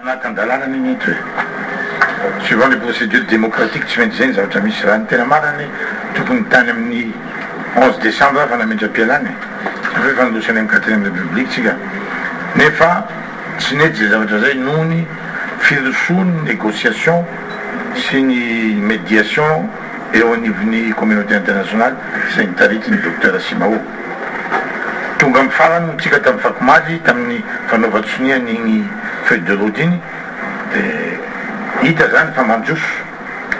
Anatin-dalàna ny mety hoe. Suivant les procédures démocratiques, tsy maintsy izay ny zavatra misy. Raha ny tena marina ny tompony tany amin'ny onze décembre aho fa nametra-pialana e! Hafa efa niroso any amin'ny quatrième république tsika nefa tsy nety izay zavatra izay noho ny firosoan'ny négociation sy ny médiation. eo anivon'ny Communauté Internationale izay nitariki ny Docteur Simao. Tonga amin'ny farany moa tsika tamin'ny fakomaly tamin'ny fanaovan-tsonia an'iny feuille de route iny dia hita izany fa mandroso,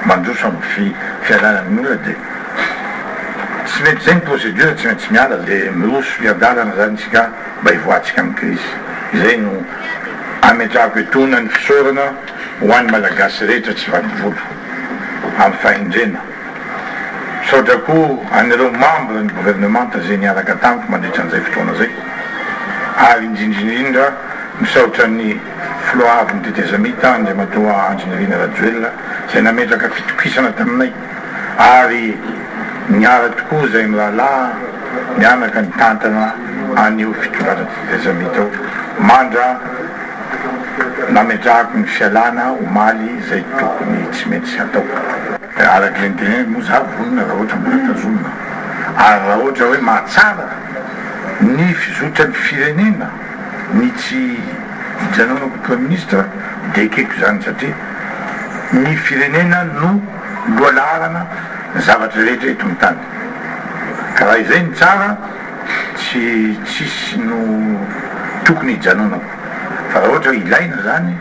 mandroso amin'ny fialana amin'ny olona dia tsy mety izay ny procédure, tsy maintsy miala dia miroso hiadalana izany isika mba hivoahantsika amin'ny crise. Izay no ametrahako etoana ny fisaorana. Ho an'ny Malagasy rehetra tsy vaky volo amin'ny fahendrena. Misaotra koa an'ireo membre ny governemanta izay niaraka tamiko mandritra an'izay fotoana izay ary indrindra indrindra misaotra ny Filohahavin'ny tetezamita Andriamatoa Andry Nirina Rajoelina izay nametraka fitokisana taminay ary niala tokoa izay mirahalahy mianaka nitantana an'io fitondrana tsy tezamita io mandra nametrahako ny fialana omaly izay tokony tsy mety tsy ataoko. Araka ilay niteneniko moa za vonona raha ohatra mbola tazomina ary raha ohatra hoe mahatsara ny fizotran'ny firenena. ny tsy hijanonako ho praiminisitra dia ekeko izany satria ny firenena no lohalaharana zavatra rehetra eto amin'ny tany ka raha izay no tsara tsy tsisy no tokony hijanonako fa raha ohatra hoe ilaina izany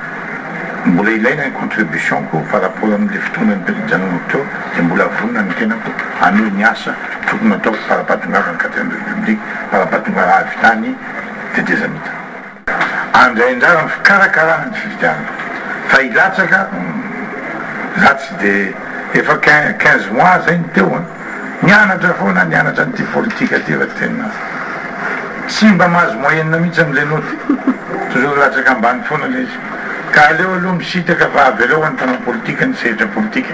mbola ilaina ny contribution-ko par rapport amin'ilay fotoana nijanonako teo dia mbola vonona ny tenako hanohy ny asa tokony hataoko fara-pahatongavana quatrième république fara-pahatongavana avy tany tetezamita. Andray anjara amin'ny fikarakarana ny fifidianana fa hilatsaka humm za tsy de efa quinze mois zay no teo an! Nianatra foana aho nianatra an'ity politika ty fa tena tsy mba mahazo moyenne mihitsy amin'izay note toujours latsaka ambany foana le izy ka aleo aloha misintaka fa avelao ho an'ny mpanao politika ny sehatra politika.